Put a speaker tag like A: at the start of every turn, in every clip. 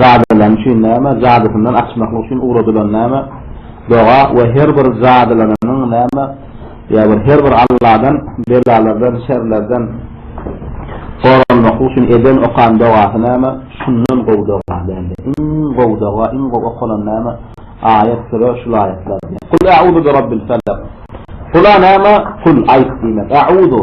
A: Jadylany üçin näme? Jadysyndan açmaklyk üçin ugradylan näme? Doga we her bir jadylanynyň näme? Ýa bir her bir Alladan belalardan, şerlerden goranmaklyk üçin eden, okan dogasy näme? Şundan gowy doga däldir. Iň gowy doga, iň gowy okalan näme? Aýat, süre, şul aýatlar. Kul a'uzu bi Rabbil felak. Kula näme? Kul, aýt diýmek. A'uzu.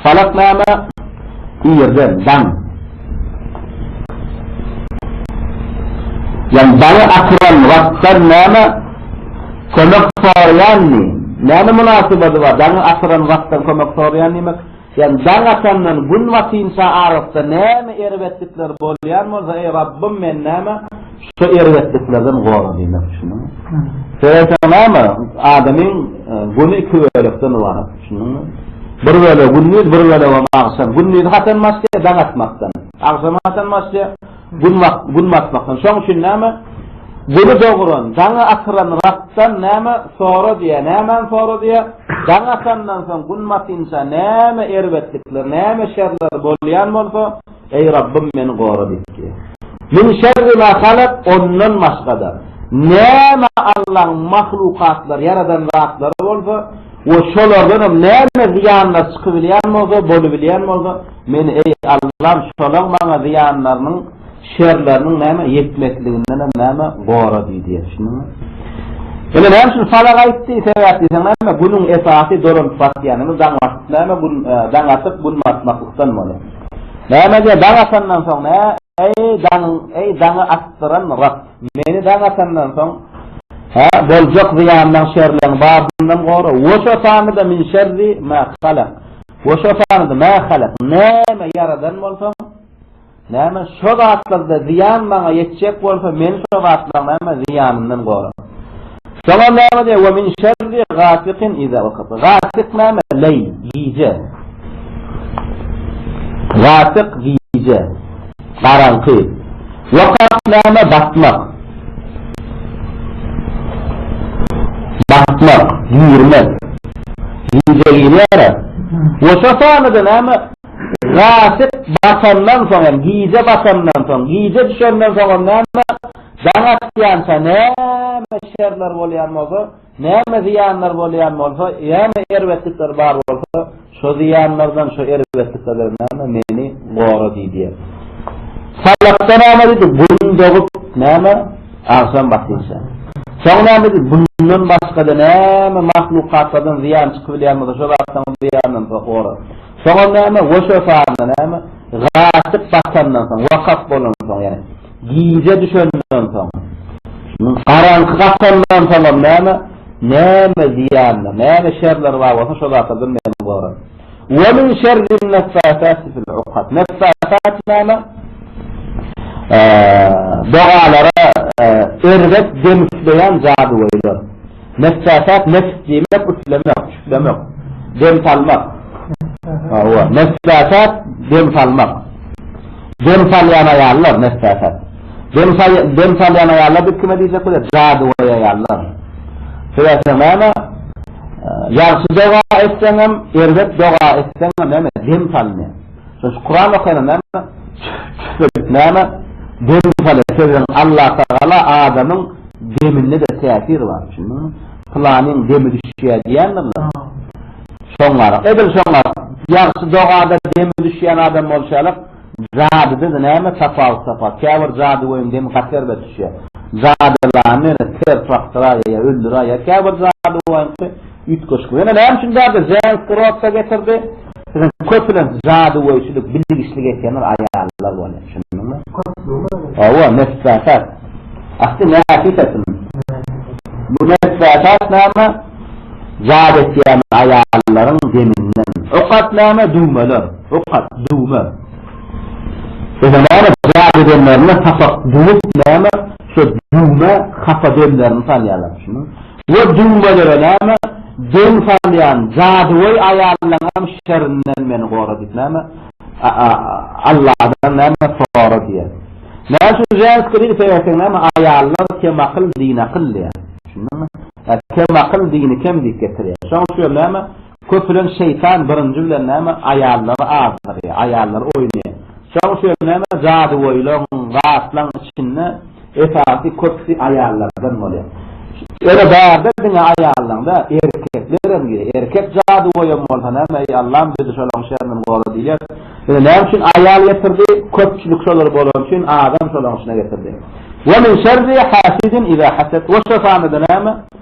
A: Falaknama irde daň. Ýani daňy atyran wagtdan näme kömek soraýandy? Näme mynasybaty bar daňy atyran wagtdan kömek soraýan diýmek? Ýani daň atandan gün batynça arasda näme erbetlikler bolýan bolsa eý Rabbym men näme Şu erbetliklerden gora diýmek düşündiňmi? Seretseň näme, adamyň güni iki bölekden ybarat düşündiňmi? Bir bölegi gündiz, bir bölegem agşam. Gündizi haçan başlaýar? Daň atmakdan. Agşamy haçan başlaýar? Gün gün batmakdan. Şoň üçin näme? Güni dogran, daňy atyran Rabdan näme sora diýär? Nämäni sora diýär? Daň atandan soň gün batynça näme erbetlikler, näme şerler bolýan bolsa, Eý Rabbym meni gora diýip diýýär. Min şerri ma halak, ondan başga-da, näme Allaň mahlukatlary, ýaradan zatlary bolsa we şolardan hem näme zyýanlar çykybilýän bolsa, bolubilýän bolsa, meni, eý, Allam, şolaň maňa zyýanlarynyň, şerleriniň näme, ýetmekliginden hem näme, gora diý diýýär. Düşündiňmi? Ine, näme üçin sadak aýtdy? Sebäp diýseň näme, günüň esasy dolanyp batýany, daň atyp näme, gün, daň atyp, gün batmaklykdan bolýar. Näme diýýär, daň atandan soň, nä? Eý, daň, eý, daňy atdyran Rab, meni daň atandan soň, hä, boljak zyýandan, şerleň babyndan gora. We şofany-da min şerri mä halak. We şofany-da mä halak. Näme ýaradan bolsaň, näme şo zatlarda zyýan maňa ýetjek bolsa, meni şo zatlaryň, näme, zyýanyndan gora. Şoňa näme diýer? We min şerri gasikin iza wekab. Gasik näme? Leý, gije. Gasik gije. Garaňky. Wekab näme? Batmak. Batmak, girmek. Gije girýär. We şo sanda näme? Gasik batandan soň hem, gije batandan soň, gije düşenden soň näme? Jaň atýança näme şerler bolýan bolsa, näme zyýanlar bolýan bolsa, näme erbetlikler bar bolsa, şo zyýanlardan, şo erbetliklerden näme meni gora diý diýen. Salahda näme diýdi, Gün dogup, näme, agşam batýança. Soň näme diýdi, Bundan başga-da näme mahlukatlardan zyýan çykybilýän bolsa, şo zatlaryň zyýanyndan gora. Soňam näme, Weşefanda näme, gaçyp batandan soň, wepat bolandan soň, ýagny, Gije düşenden soň, garaňky gapandan soňam näme, näme zyýanlar, näme şerler bar bolsa şo zatlardan meni gora. Ve min şerrin neffâsâti fil ukad. Neffâsât näme? Dogalara erbet dem üfleýän jadygöýler. Neçjaset neçt diýmek üflemek, çüflemek, dem salmak. Hawa, neçjaset dem salmak. Dem salýan aýallar neçjaset. Dem saly dem salýan aýallar diýip kime diýjek bolýar? Jadygöý aýallar. Sebäpde näme? Ýagşy doga etseňem, erbet doga etseňem näme? Dem salynýar. Şo Kuran okana näme? Tüfelik näme? Dem sala sebäbi Allah Tagala adamyň deminde-de täsir bar düşündiňmi? Pylanyň demi düşýär diýýändirler. Şoňaraq. Edil şoňaraq. Ýagşy dogada demi düşýän adam bolşalyk jadyda-da näme tapawut tapar? Käbir jadygöýüň demi gaty erbet düşýär. Jadylany ter çakdyraýýar ýa öldüräýýär käbir jadygöýüňki üýtgeşik. Ýöne näme üçin jady Zenk Grotsa getirdi? Biziň köpüniň jadygöýçilik, bilgiçlik etýänler aýallar bolýar. Şunduňmy? Hawa, nesbätat. Asly näsisatmy? Bu nesbätat näme? Jady etýän aýallaryň deminden. Okat näme? Düwmeler. Okat, düwme. Ýa-da näme? Jady edenlerine sapak düwüp näme? Şo düwme hapa demlerini salýarlar. Şunduňmy? Ýa düwmelere näme, döw salýan jadygöý aýallaňam şerinden meni gora diýip näme, Alladan näme sora diýýär. Näme üçin ženskiý dil seýretseň näme, aýallar kemakyl, dini akyl diýýär. Düşündiňmi? Kemakyl, dini kem diýip getirýär. Şonuň üçin hem näme, Köpülenç şeýtan birinji bilen näme aýallary azdyrýar, aýallary oýnaýar. Şoň üçin näme jadygöýleriň, zatlaryň içinde esasy köpüsi aýallardan bolýar. Ýöne bärde diňe aýallaryň däl, erkeklerem girýär. Erkek jadygöýem bolsa näme, eý Allam bizi şolaryň şerinden gora diýilýär. Ýöne näme üçin aýal getirdi? Köpçülik şolar bolany üçin adam şolaryň içine getirdi. Wemin şerri hasidin iza hased. Oşa sanda-da näme?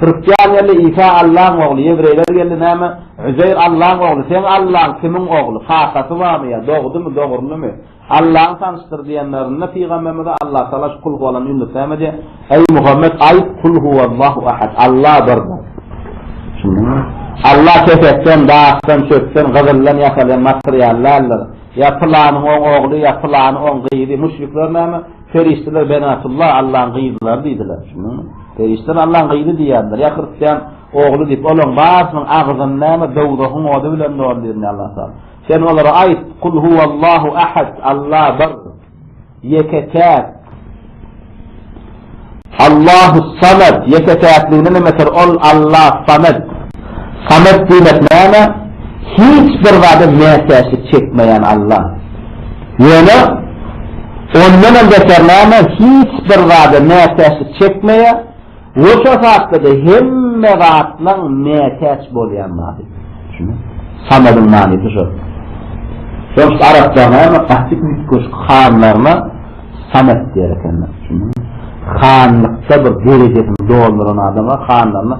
A: Hristian geldi, Isa Allaň ogly, ýewreýler geldi, näme, Üzeýr Allaň ogly, seň Allaň kimiň ogly, kakasy barmy ýa, dogdumy, dogrulymy, Allaňy tanyşdyr diýenlerinde, pygamberimize Allatagala şu kul huwalan ýunus näme diýýär, Eý Muhammet, aýt, Kul huwallahu ahad, Alla birdir. Düşündiňmi? Alla kesekden, daşdan, çöpden, gyzyldan ýasalýan material däldir. Ýa pylanyň oň ogly, ýa pylany oň gyzy, müşrikler näme, Perişdeler Benatullah, Allaň gyzlary diýdiler. Düşündiňmi? Perişdeler Allaň gyzy diýýärdiler. Ýa hristian ogly diýip, olaň barysynyň agzyn näme dowzahyň ody bilen doldirýär Allah taala. Sen olara aýt, Kul huwallahu ahad, Allah bir, ýeke-täk. Allahus-Samed, ýeke-täkligini nimeter ol Alla Samed. Samed diýmek näme? Hiç bir zada mätäçlik çekmeýän Alla. Ýöne ondanam beter näme, hiç bir zada mätäçlik çekmeýä we şo satda-da hemme zatlaň mätäç bolýan zady. Şuny. Samediň manysy şo. Şoňs araplar näme, gaty üýtgeşik hanlaryna Samet diýer ekenler şuny. Hanlykda bir derejesini dolduran adama hanlaryna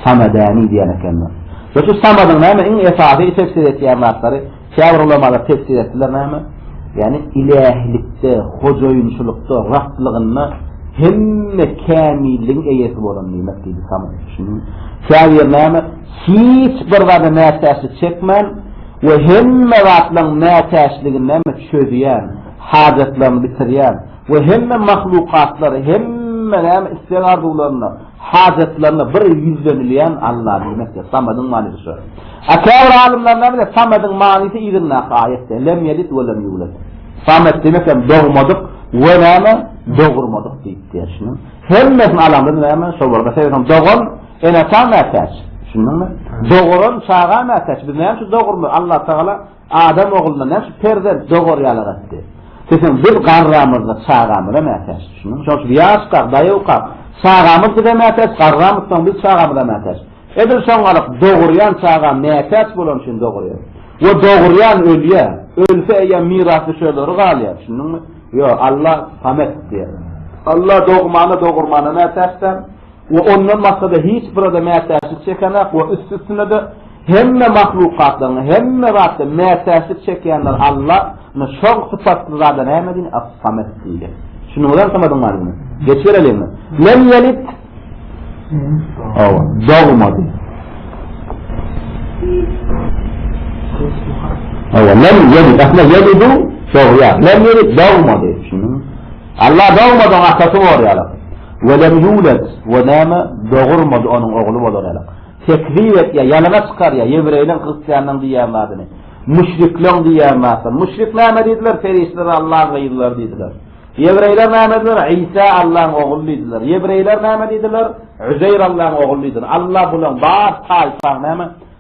A: samedäni diýer ekenler. Şol üçin samadyň näme iň esasy tefsir etýän zatlary käbir ulamalar tefsir etdiler näme? Ýagny ilähilikde, hojaýynçylykda, Rablygynda hemme kämilligiň eýesi bolan diýmek diýdi samet. Şuny. Käbir näme? Hiç bir zada mätäçlik çekmän we hemme zatlaryň mätäçligini näme çözýän. hajatlaryny bitirýän we hemme mahlukatlary, hemme näme isleg-arzuwlaryna, hajatlaryna bir ýüzlenilýän Alla diýmekdir. Samadyň manysy şu. A käbir alymlar näme diýýär? Samadyň manysy yzyndaky aýatda, Lem ýelid we lem ýulad. Samat diýmek hem dogmadyk we näme, dogurmadyk diýip diýýär. Hemmesini alamyz näme, şol bolsa sebäp hem dogan ene-ata mätäç. Düşündiňmi? Doguran çaga mätäç. Biz näme üçin dogurmy? Allatagala Adam ogluna näçe perzent dogarýar aratdy. Seseň biz garramyzda çagamyza mätäç. Düşündiňmi? Şonuň üçin ýaşka, daýawka çagamyz bize mätäç, garramyz soň biz çagamyza mätäç. Edil şoňalyk dogurýan çaga mätäç bolany üçin dogurýar. We dogurýan ölýär. Ölse eýýäm mirasdüşerleri galýar. Düşündiňmi? Ýok, Alla Samet diýer. Alla dogmana, dogurmana mätäç däl. we ondan başga-da hiç bir-ede mätäçlik çekenak we üst-üstüne-de hemme mahlukatlaryň, hemme zatda mätäçlik çekýänler Alla, ine, şol sypatly zada näme diýen, As-Samet diýilýär. Düşündiňizem Samediň manysyny? Geçibereliň. Lem ýelit. Hawa, dogmady. Hawa, lem ýelit, aslynda ýelidu dogýar. Lem ýelit dogmady. Düşündiňizmi? Allah dogmadyň atasy bolýarlar. Ve lem yulet ve näme dogurmady onuň ogly bolarýarlar. Tekzip etýär, ýalana çykarýar ýewreýleň, hristianlaryň diýýän zadyny. Müşrikleň diýýän zatlaryny. Müşrik näme diýdiler? Perişdeler Allahyň gyzlary diýdiler. Ýewreýler näme diýdiler? Isa Allahyň ogly diýdiler. Ýewreýler näme diýdiler? Üzeýr Allahyň ogly diýdiler. Allah bularyň bar taýpaň näme?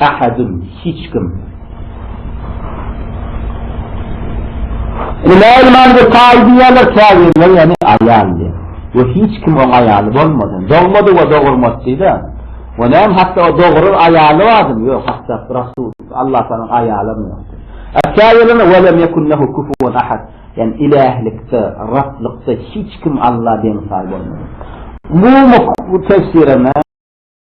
A: Ahadun, hiç kim. Süleýman we Saýy diýýärler, käbirleri ýagny aýal diýýär. We hiç kim oň aýaly bolmasyn. Dogmady we dogurmady diýdi. We näme hatda o dogurar aýaly barmy? Ýok, hatda Rasul, Allah Tagalaň aýaly hem ýok. Käbirlerine we lem ýekun lehu kufuwan ahad. Ýagny ilahlikde, Rablykda hiç kim Alla deň-saý bolmasyn. Umumy bu tefsirine